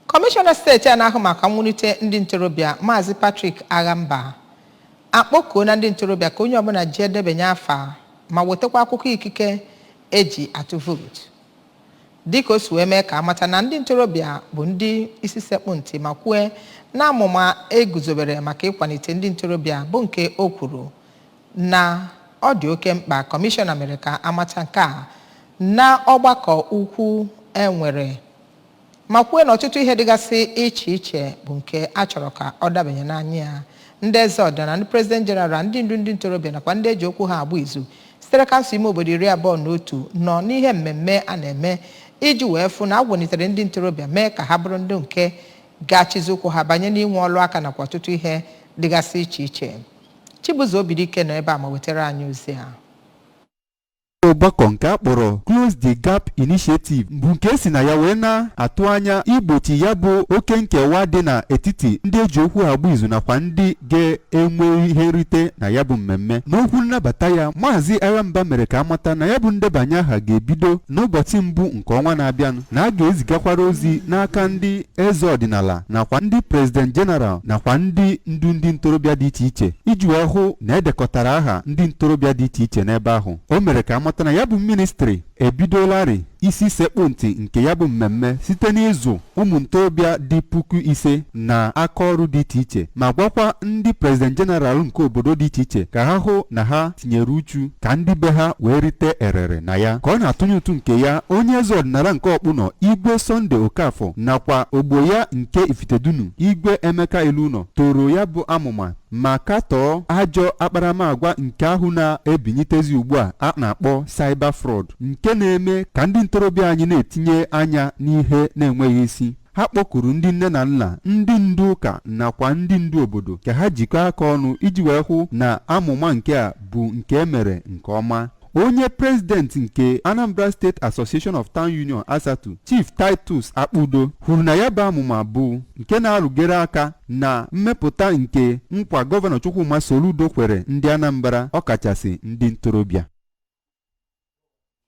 kọmishọna steeti a na-ahụ maka mwunite ndị ntorobịa maazị Patrick Aghamba akpọkuona ndị ntorobịa ka onye ọbụla jee debanye afa ma wetakwa akwụkwọ ikike eji atụ vootu dịka o si wee mee ka amata na ndị ntorobịa bụ ndị isi sekpụ ntị ma kwue na amụma eguzobere maka ịkwanite ndị ntorobịa bụ nke o kwuru na ọ dị oke mkpa kọmishọna mere ka amata nke a na ọgbakọ ukwu enwere ma kwue na ọtụtụ ihe dịgasị iche iche bụ nke a chọrọ ka ọ dabanye n'anya ya ndị eze ọdịnala ndị prezident jeneral ndị ndu ndị ntorobịa nakwa ndị eji okwu ha agba izu sitere kansụl ime obodo iri abụọ na otu nọ n'ihe mmemme a na-eme iji wee fụ na a kwanitere ndị ntorobịa mee ka ha bụrụ ndị nke ga-achịzi ụkwụ ha banye n'inwe ọlụ aka nakwa ọtụtụ ihe dịgasị iche iche Chibuzo Obidike nọ ebe a ma wetara anyị ozi a ọgbakọ nke a kpọrọ Close the Gap Initiative bụ nke esi na ya wee na-atụ anya igbochi ya bụ oke nkewa dị n'etiti ndị eji okwu ha agba izu nakwa ndị ga-enwe ihe nrite na ya bụ mmemme n'okwu nnabata ya maazị Aghamba mere ka amata na ya bụ ndebanye aha ga-ebido n'ụbọchị mbụ nke ọnwa na-abịanụ na a ga-ezigakwara ozi n'aka ndị eze ọdịnala nakwa ndị prezident jeneral nakwa ndị ndu ndị ntorobịa dị iche iche iji wee hụ na edekọtara aha ndị ntorobịa dị iche iche n'ebe ahụ o mere ka amata na ya bụ ministri ebidolarị isi sekpụ ntị nke ya bụ mmemme site n'ịzụ ụmụ ntorobịa dị puku ise na aka ọrụ dị iche iche ma gwakwa ndị prezident jeneral nke obodo dị iche iche ka ha hụ na ha tinyere uchu ka ndị be ha wee rite erere na ya ka ọ na-atụnye ụtụ nke ya onye eze ọdịnala nke ọkpụnọ igwe sọnde okafọ nakwa ogbo ya nke ifitedunu igwe emeka ilọụnọ toro ya bụ amụma ma katọọ ajọ akparamagwa nke ahụ na-ebinyitezi ugbu a a na-akpọ cyber fraud nke na-eme ka ndị ntorobịa anyị na-etinye anya n'ihe na-enweghị isi Ha kpọkuru ndị nne na nna, ndị ndu ụka nakwa ndị ndu obodo ka ha jikọọ aka ọnụ iji wee hụ na amụma nke a bụ nke e mere nke ọma. Onye prezidenti nke Anambra State Association of Town Union Asatu, Chief Titus Akpudo, kwuru na ya bụ amụma bụ nke na-arụgere aka na mmepụta nke nkwa Gọvanọ Chukwuma Soludo kwere ndị Anambra ọkachasị ndị ntorobịa.